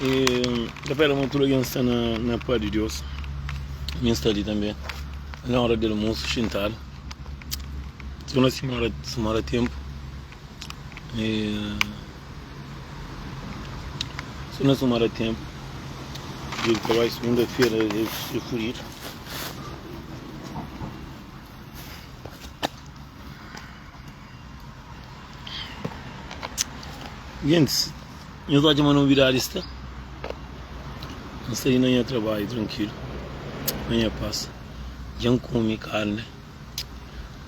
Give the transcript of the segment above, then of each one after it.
N ta pera ma tudu algen sta na pâ di Deus. Mi N sta li tanbê. N lonra del musu, xintadu. N ta konxi ma mora ténpu. I si nu si mora ténpu, dia di trabadju, sigunda-fera, é furidu. Gentis. Nhos odja ma novidadi sta N sai na nha trabadju trankilu Na nha pas Dja N kume karne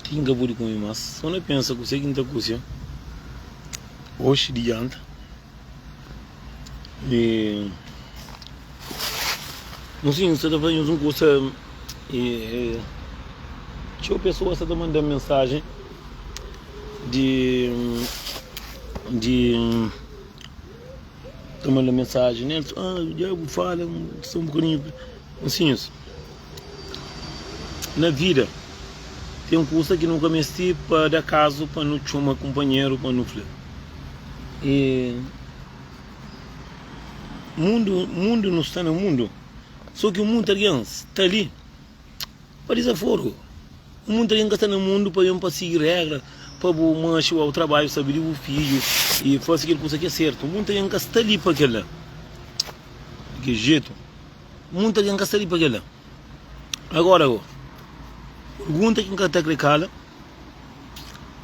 Ti N ka pudi kume más Sô na pensa kusé ki N ta kuse-m Oxi di djanta E N sinti N sta ta faze nhos un kusa E Txeu pesoas sta ta manda-m mensajen. di di ta manda mensagem nel ah dja bu fala um só um bocadinho ansinhos na vida tem coisa que nunca mesti pa da caso pa nu txoma companheiro pa nu fla e mundo mundo nu sta na mundo só que um monte alguém sta li Pa dizaforu, Un monti algen ka sta na mundu pa ben pa sigi régra pa bu manxe ba bu trabadju, sabe di bu fidju i fase kel kusa ki é sertu. Un monti algen ka sta li pa kel-la. Di ki jetu? Un monti algen ka sta li pa kel-la. Agóra go, pergunta ki N ka ta krê kala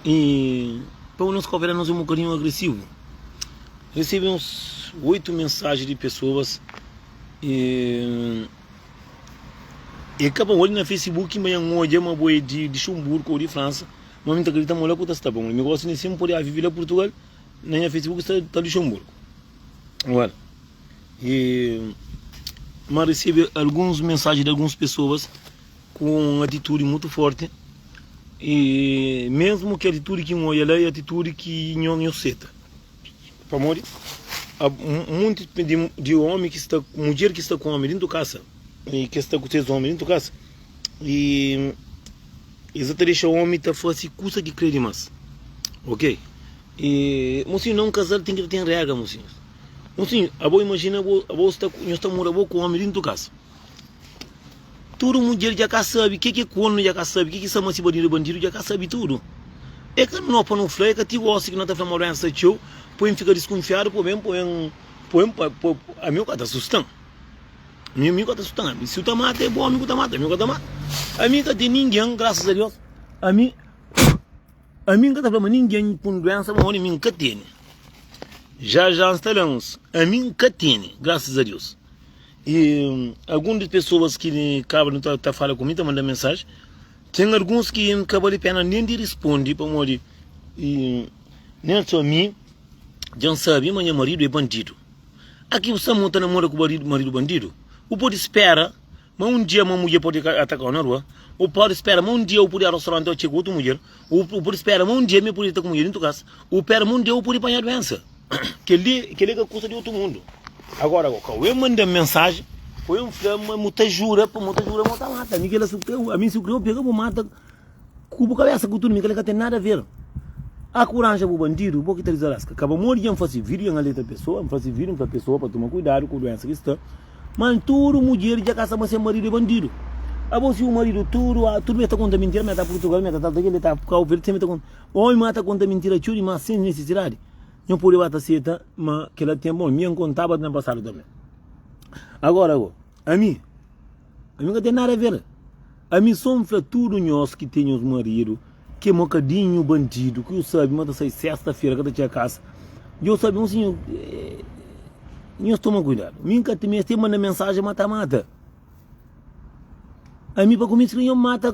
i pamodi nos kopera nos é un bokadinhu agresivu. Resebe uns oitu mensaji di pesoas E ka pa olho na Facebook, ma en odja ma bo e di Luxemburgo ou di França, ma mi ta kredita ma la ku ta sta pa mo. Mi gosta nesse mi podia vivi la Portugal, na nha Facebook sta ta Luxemburgo. Well, e ma recebe alguns mensagem de alguns pessoas com atitude muito forte e mesmo que atitude que olha lá é atitude que não, não aceita. Pamodi ab um monte de, de homem que está, mulher que está com homem dentro de casa, e que está com seus homens dentro de casa, e eles até deixam o homem tá fazer coisa que crê demais, ok? E, mocinho, não um casal tem que ter regra, mocinho. Mocinho, abo imagina, abo, abo está, nós está mora abo com homem dentro de casa. Tudu mudjer dja ka sabe ke ke kornu dja ka sabe ke ke sama si bandidu é bandidu dja ka sabe tudu é ka no pa no fla é ka ti gosi ki no ta fla ma doensa txeu poi n fika diskunfiadu poi ben poi n poi n ami o ka ta sustan ami ami o ka ta sustan ami si o ta mata é bo ami ku ta mata ami o ka ta mata ami ka ten ningen grasas a Deus ami. Ami N ka ta fla ma ningen ku un duénsa bon ódi mi N ka tene Já já N sta la uns ami N ka tene graças a Deus e algum des pessoas ki kaba li ta fala ku mi ta manda mensagem tem alguns ki N ka bali pena nem di responde pamodi e nem só ami dja N sabe ma nha marido é bandido aki bu sta mon ta namora ku marido bandido bu podi spera Ma un dia ma mudjer pode ka atakau na rua. U pode spera ma un dia u pode a restaurante o txega otu mudjer. U u pode spera ma un dia mi pode ta ku mudjer intu kas. U pera ma un dia u pode panha duensa. Kel li kel li ka kusa di otu mundu. Agora go kau e manda-m mensaji o e fla-m ma mu ta jura pa mo ta jura ma o ta mata mi. Kel la si u kre u ami si u kre u pega bu mata. Ku bu kabesa ku tudu mi kle ka ten nada ver a kuranja bu bandidu bo ki ta dizarasca ka ba modi dja nfasi video en aleta pesoa nfasi video nfla pesoa pa tuma kuidadu ku duensa ki sta mal tudu mudjer dja ka sa ma se maridu e bandidu abo si u maridu tudu a tudu be ta konta mintira me ta purtugal me ta tal ta kil be ta kau verde sem be ta konta oi ma ta konta mintira txu di mas sem nisisidadi nho pode ba ta seta ma kila ten bon mi an kontaba na pasadu tanbe agora bo ami Ami ka ten nada a ver. Ami só N fla tudo nhos ki ten nhos marido ki é mokadinho bandido ki yo sabe ma ta sai sesta fera ka ta txia casa yo sabe un sinho nhos toma cuidado mi N ka ta mi es tem manda mensagem ma ta mata ami pa cominsla nhos mata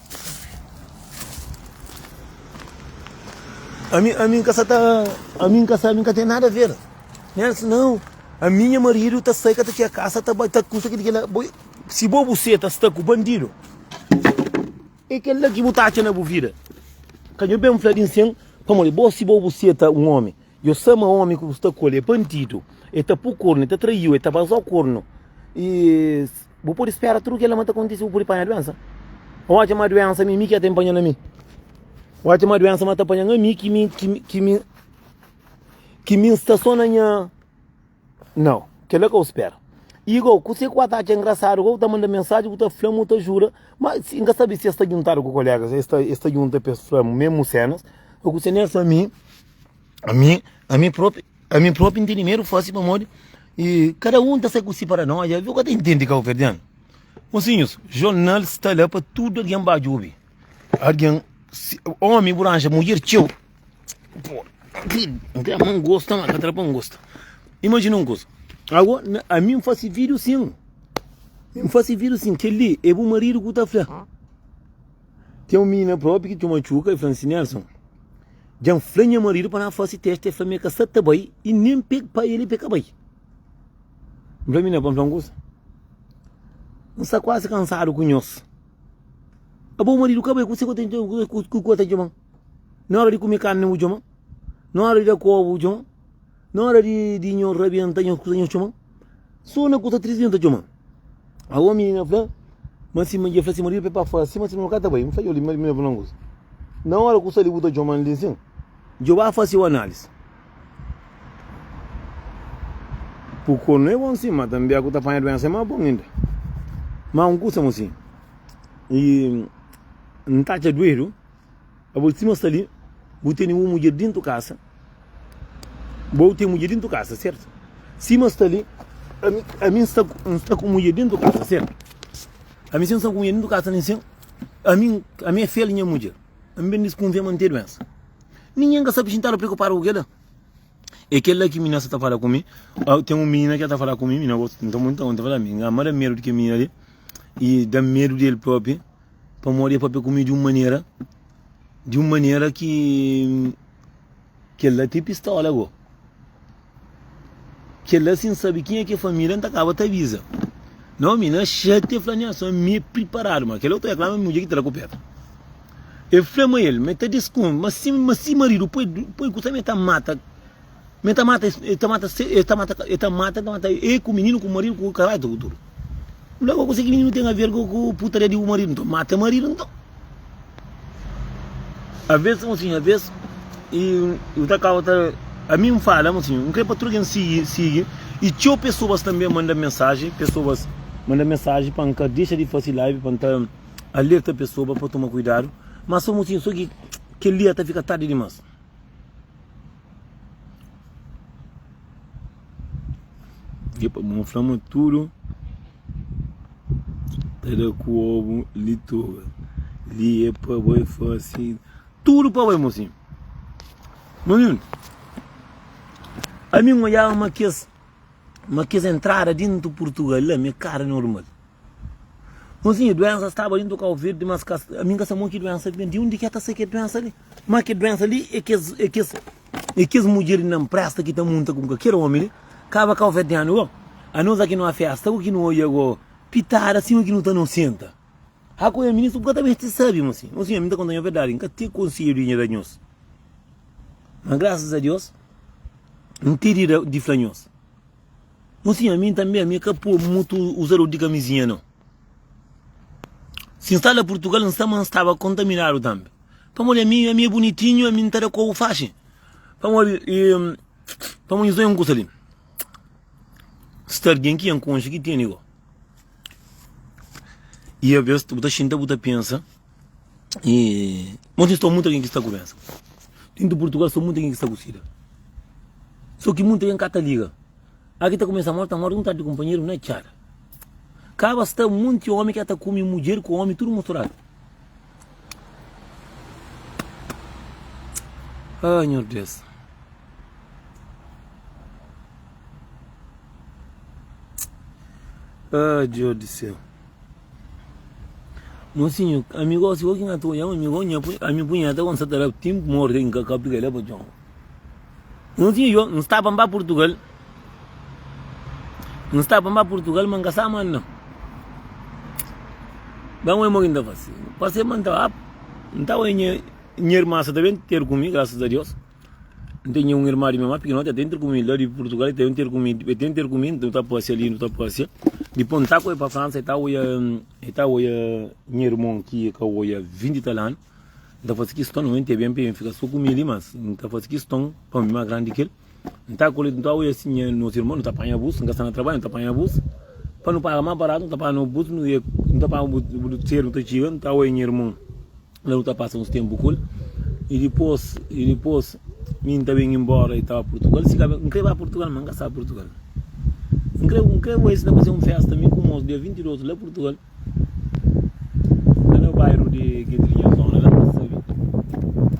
Ami, ami nka sa ta. Ami nka sa, ami nka ten nada a ver. Nelson, não. A minha marido tá sai que tá tinha casa, tá tá custa que diga boi. Se bo você tá está com bandido. É que lá que botar na bo vida. Canho bem falar em sem, para morrer. Bo se bo você tá um homem. Eu sou um homem que está colher bandido. Ele tá por corno, ele tá traiu, ele tá vazou corno. E Bu pode spera tudu kela ma ta kontise, bu pode panha duensa. Odja ma duensa mi, mi ki a ta inpanha na mi. Odja ma duensa ma ta panha na mi, ki mi, ki mi, ki mi, ki mi sta so na nha. Nau, kela ka u spera. Igou, kuse ku a ta atxa engrasadu, ku ta manda mensaji, ku ta fla-m, u ta jura, ma si, nka sabi si es ta djuntadu ku kolegas, es ta, es ta djunta pa es fla-m mesmu senas, o kuse. Nessa mi, ami, ami propi. Ami propi n tene medu fasi pamodi kada un ta sai ku si paranoia. Bu ka ta intendi kauverdianu. Mosinhus, jornal sta la pa tudu algen ba jubi. Algen, omi bu ranja mudjer txeu. Pô, n kre ma n gosta ma ka ta da pa n gosta. Imajina un kuza, ago ami n fasi vidiu sin, n fasi vidiu sin, kel-li e bu maridu ku ta fla. Ten un minina propi ki txoma txuka, e fla-m si, Nelson. Dja N fla nha maridu pa na fase teste, el fla ma el ka sa ta bai i nen pa el bai el ka bai. N fla, Minha, pa N fla un kuza, N sta kuazi kansadu ku nhos. Abo maridu ka bai, kuse ki bu ta txoma-m? Na ora di kume karni, bu txoma-m? Na ora di da koba, bu txoma-m? Na óra di, di nho rabienta, nho kusa nho txoma. Sô na kusa tris di nho ta txoma. A omi na fla, ma si ma dje fla si maridu pe pa fora si ma si ma ka ta bai. N fla, yo li maridu na fla un kusa. Na óra kusa li bu ta txoma-m li nsin, djo ba fase u anális. Ku konu é bon sin, ma tanbe a ku ta panha duensa é má bon inda. Má un kusa, mo sin, i N ta atxa duedu. Abo sima sta li bu tene un mudjer dintu kasa bo ten mudjer dintu kasa sertu sima sta li ami sta sta ku mudjer dintu kasa sertu ami sta ku mudjer dintu kasa ami sta ku mudjer dintu kasa sim ami ami é fiel nha mudjer ami ben diskunfia ma n ten duensa ningen ka sta pixintadu preokupadu ku kila é kel la ki minha sta ta fala ku mi au ten un minina ki sta ta fala ku mi minha bo nta nta fala mi nganma da medu di kel minina li i da medu di el propi. Pamodi é pa pe kume di un manera, di un manera ki kel la te pistola go. Kel la sin sabe kin é ke família, ta kaba ta aviza. Não, mi na chate fla nha só mi preparado, mas aquele outro é claro, mulher que te dá copeta. Eu falei, mas ele, mas tá desconto, mas se, mas se marido, põe, põe, sabe, tá mata. Me ta mata e ta mata se e ta mata e ta mata e ta mata e ku mininu ku maridu ku karai tudu tudu N fla koko se ki mininu ten a ver ku ku putaria di bu maridu nton mata maridu nton Aves ta fla-m si aves i bu ta kaba ta ami N fala-m si N kre pa tudu algen sigi sigi i txeu pesoas tanbe manda mensaji pesoas manda mensaji pa N ka dexa di fasi live pa N ta alerta pesoa pa toma kuidadu ma sa bo si so ki kel dia ta fika tardi dimas. Epa, bu fla ma tudo ta da ku obu li toga li e pa bai fasi tudo pa bai mosinho mosinho ami n odjaba ma kes ma kes entrada dintu purtugal la me kara normal mosinho duensa staba dintu kau verdi mas ami n ka sabe mon ki duensa ki ben di undi ke ta sai ke duensa li Má kel duénsa li é kes é kes é kes mudjer di na nprésta ki ta munta ku kalker ómi li, kaba ka ofetianu go, anós a ki nu afésta go, ki nu odja go pitada sima ki nu ta nosenta. Ha ku nha ministru ku ka ta meste sabe mo si. Ô sinhor, mi ta konta-nho verdadi, N ka ten konsedju di nha da nhos. Má grasas a Deus, N ten di da di fla nhos. Ô sinhor, mi tanbe, mi ka pô mutu uzador di kamizinha nau. Si N sta la Purtugal, N sta ma N staba kontaminadu tanbe. Pamodi ami, ami e bunitinhu, ami N ta da kobu faxi. Pamodi i, pamodi nhos ta oja un kusa li, sta algen ki N konxe ki tene go. I aves bu ta xinta, bu ta pensa. E monti sta muita gen ki sta ku doensa. Denti di Purtugal sta muita gen ki sta ku sida. So ki muita gen ka ta liga. A ki ta kumesa morti ta morti un tardi kumpanheru na txada. Kaba sta monti omi ki a ta kume mudjer ku omi tudu musturadu. Ah nhor Deus. Ah Deus di seu. Mosinhu, ami gosi bo ki nha txon, ami bo nha punheta, ami punheta kon sa ta da tim morta ki nka ka pika le pa txon. Mosinhu João, N sta pa N ba Portugal, N sta pa N ba Portugal ma N ka sa ma N. Ba N oi mo ki N ta fase, N fase ma N ta ba, N ta oi nha nha irma sa ta ben ter ku mi, graças a Deus. N tenha un irma di mi más pikinoti, el ta intra ku mi la di Purtugal, el ta inter ku mi, el ta inter ku mi, nu ta pasia li, nu ta pasia. Dipôs N ta ku el pa Fransa, el ta oja, el ta oja nha irmon ki el ka oja vinti tal anu. N ta fase kiston oja-l ten ben pa el fika sô ku mi li, mas N ta fase kiston pa mi más grandi di ki el. N ta kole, N ta oja si nha, nos irmon, nu ta panha bus, N ka sta na trabadju, nu ta panha bus. Pa nu paga más baratu, nu ta panha bus, nu ta panha bus, sedu nu ta txiga, nu ta oja nha irmon. La nu ta pasa uns ténpu ku el. I dipôs, i dipôs mi N ta ben inbóra i ta ba Purtugal. Si ka ben, N krê ba Purtugal, má N ka sabe Purtugal. N krê, N krê oji si N ta faze un fésta, mi ku mos, dia 20 di otu, la Purtugal, la na bairu di Gedrinha Zona, la N ka sabe.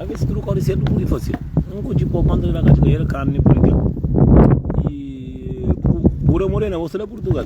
Alvês si tudu kóre sértu, pudi fase. N kudji pô kónta di la ka txiga el, karni, pur inkla. I bu, bu ta morena, gosi la Purtugal.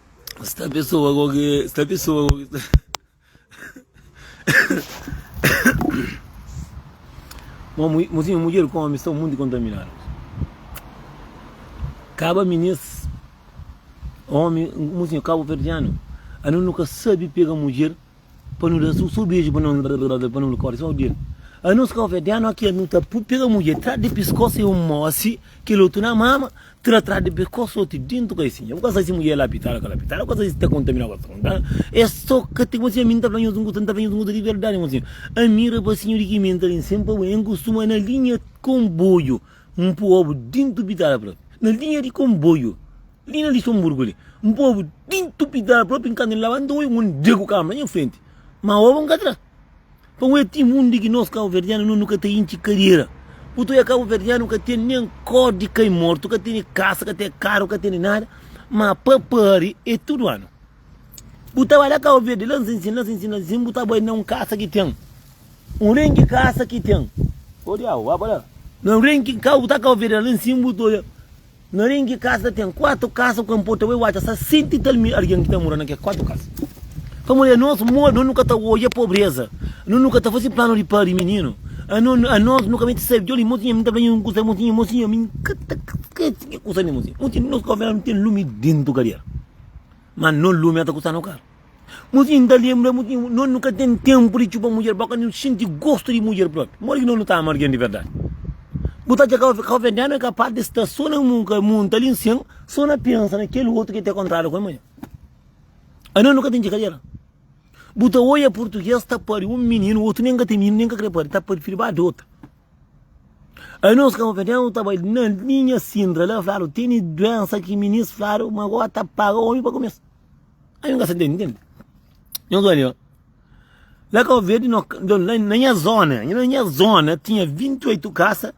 Sta pesoa ko ke sta pesoa ko ke sta Mo mu mo si mudjer ku omi sta monti kontaminadu kaba minis omi mo si kabo verdianu anu nu ka sabi pega mudjer Pa nu da so beju pa nu pa nu kore so di el a nos ka ofende a nos ki el nu ta pega mudjer tra di piskos e un mo si kel otu na mama tra tra di piskos soti dintu kai si nha bu ka sai si mudjer la pitara kala pitara bu ka sai si ta kontamina kala ta kontamina e so ka ti konse ami nta fla nhos nkuta nta fla nhos nkuta di verdadi nhos si ami rapasinhu di ki mi nta bin sen pa bo en kustuma na linha konboiu npu obu dintu pitara pra na linha di konboiu Li na Lixonburgu li, un povu di ntupital propi nkantu N laba, N ta obi un omi dregu kama na nha frenti, ma oba N ka tra. Pa un etim, un di ki nos kabuverdianu nu nu ka ta intxi kadera. Purtu oia kabuverdianu ka tene nen kor di kai mortu, ka tene kasa, ka tene karu, ka tene nada, ma pa pari e tudu anu. Bu ta bai la Kabu Verdi, la Nsinsin, la Nsinsin, la Nsinsin, bu ta bai na un kasa ki ten, un renki kasa ki ten, o diabu, ba pa la, na un renki, ka bu ta Kabu Verdianu, la Nsinsin bu ta oia. Na renki kasa ten kuatu kasa ku enporta ue uaca sa senti i tal mi argen ki ta mora na ke kuatu kasa. Pamo e anos modi no nu ka ta oja pobreza, no nu ka ta fasi planu di pari mininu, ano anos no ka mete sabi djoli mo sinha mi ta fla un kusa mo sinha mo sinha mi ka ta skesi ke kusa li mo sinha mo sinha nos kofia no ten lumi dentu kadiera ma no lumi a ta kusa no karu. Nos inda lenbra mu tinha, nos nu ka ten tenpu di txuba mudjer, bo ka nu xinti gostu di mudjer propi. Modi ki nos nu ta ama algen di verdadi? Bu ta atxa ka ka venenu é kapas di sta so na mu ka munta li nsen so na pensa na kel otu ki ta kontradu ku el manha. Anos nu ka ten txikadera. Bu ta oia purtuges ta pari un mininu, otu nen ka ten mininu nen ka kre pari, ta prifiri ba adota. Anos ka venenu ta bai na linha Sintra la fladu teni duensa ki minis fladu ma gora ta paga omi pa ku mes. Aí un gasta entende, entende? Nhos odi ó, lá Cabo Verde nó na na nha zona, na nha zona tinha 28 casa,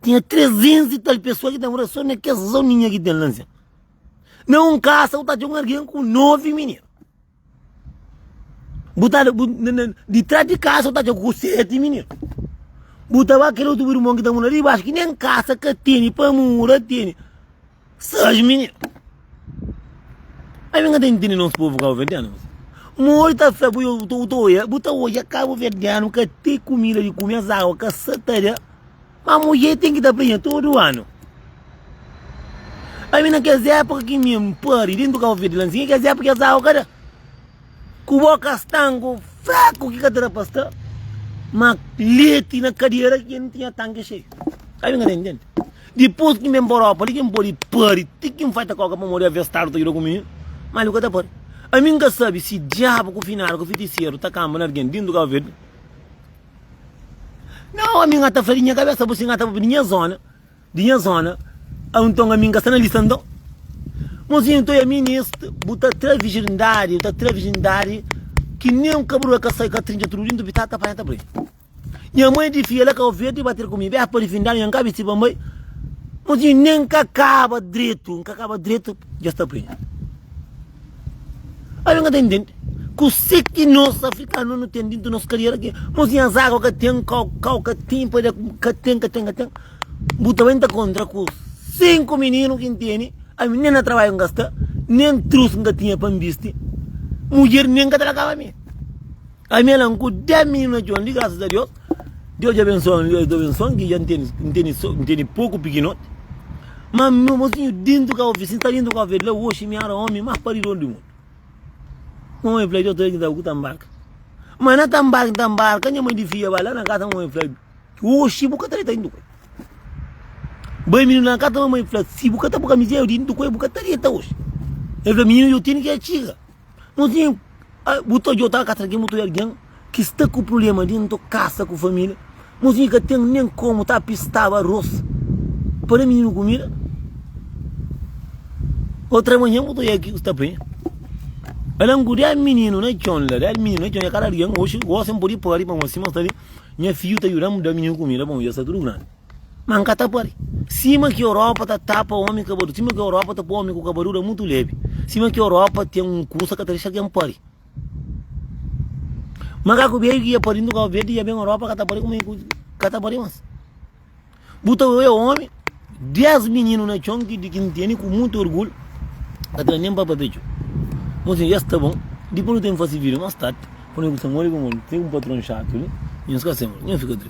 tinha 300 e tal pessoa ki ta mora só na kes zoninha ki ten lá nsen. Na un casa bu ta atxa un algen ku 9 mininu, bu ta bu na na ditras di casa bu ta atxa ku 7 mininu, bu ta ba kel otu bu irmon ki ta mora riba baixo ki nen casa ka tene, pa mora tene. Sérgio Mini Ami ka ta intindi nos povo cabo-verdiano misi Modi ta fla ku yo bu ta odja bu ta odja cabo-verdiano ka ten kumida di kume es awa ka sa ta da ma mudjer ten ki ta prenha tudu anu Ami na kes epoka ki mi pari dentu cabo-verde la nsi ki kes epoka ki es awa ka da. Ku boka stangu fraku ki ka ta da pa sta ma leti na kadera ki N tinha tanki xeiu. Sabe kende N tende? Dipus ki N ben pa Europa li ki N pode pari ti ki N fai ta koka pamodi aves Stadu ta juda ku mi, ma li bu ka ta pari. Ami N ka sabe si diabu ku finadu ku fitiseru ta kanba na algen dintu Kabu Verdi. Nau, ami N ata fla di nha kabesa bu si N ata pa ben di nha zona. Di nha zona au nton ami nka sta na lista nton Mozinho nton ya minist bu ta tra vijindadi bu ta tra vijindadi ki nen un kabrua ka sai ka trinca tudu di ntu bi ta ta panha ta brin nha mãe di fia la ka ofi el di bater ku mi beh padi fin danu nha nka bisti pa nbai Mozinho nen nka kaba dretu nka kaba dretu dja sta brin ami nka ta intendi kuse ki nos afrikanu nu ten di ntu nos kariera ki Mozinho azago ka ten kau kau ka ten padi ka ten ka ten ka ten. Bu ta ben ta kontra ku sinku mininu ki N tene, ami nen na trabadju N ka sta, nen trus N ka tinha pa N bisti, mudjer nen ka ta lakaba mi. Ami ala-m ku des mininu na txon li, grasas a Deus, Deus dja abensua-m li, es du abensuan ki dja N tene, N tene so, N tene poku pikinoti. Ma mi mosinhu dentu kau fi, si N sta dentu kau fi el fla, oxi mi éra omi más paridoru di mundu. Mamai fla, djotu el ki ta bu, ki ta nbarka. Ma na ta nbarka, N ta nbarka, nha mai di fia ba la na kasa, mamai fla, Oxi bu ka ta reta indukue bai mininu la kasa mamai fla si bu ka ta bu kamizia yo di indukue bu ka ta reta oxi el fla mininu yo tene ki a txiga no tinha bu ta odiau ta kasa na ke mutu algin ki sta ku prublema dentu kasa ku familia no tinha ka ten nen komu ta pistaba arros pa da mininu kumida otra manha bu ta oial ki bu sta penha ala ngu dial mininu na txon la dial mininu na txon ya kada algin oxi gosi n pudi padi pamo sima sta li Nha fidju ta djuda-m da mininu kumida, bon, i el sta tudu grandi. Má N ka ta pâpia. Sima ki Europa ta tapa ómi kabadu, sima ki Europa ta pô ómi ku kabadura mutu lébi, sima ki Europa ten un kusa ka ta dexa algen pâpia. Makaku bedju ki dja pâpia na Kau Verdi dja ben Europa ka ta pâpia kuma i ka ta pâpia más. Bu ta oia omi, dés mininu na txon ki di ki N tene ku monti orgulhu, ka tra nen pa pape txeu. Mon sinhor, es ta bon. Dipos nu ten fase vida más tardi, pa nu, ku Samuel i Gomorra, nu ten un patron xatu li, nhos ka sema, nhos fika tristi.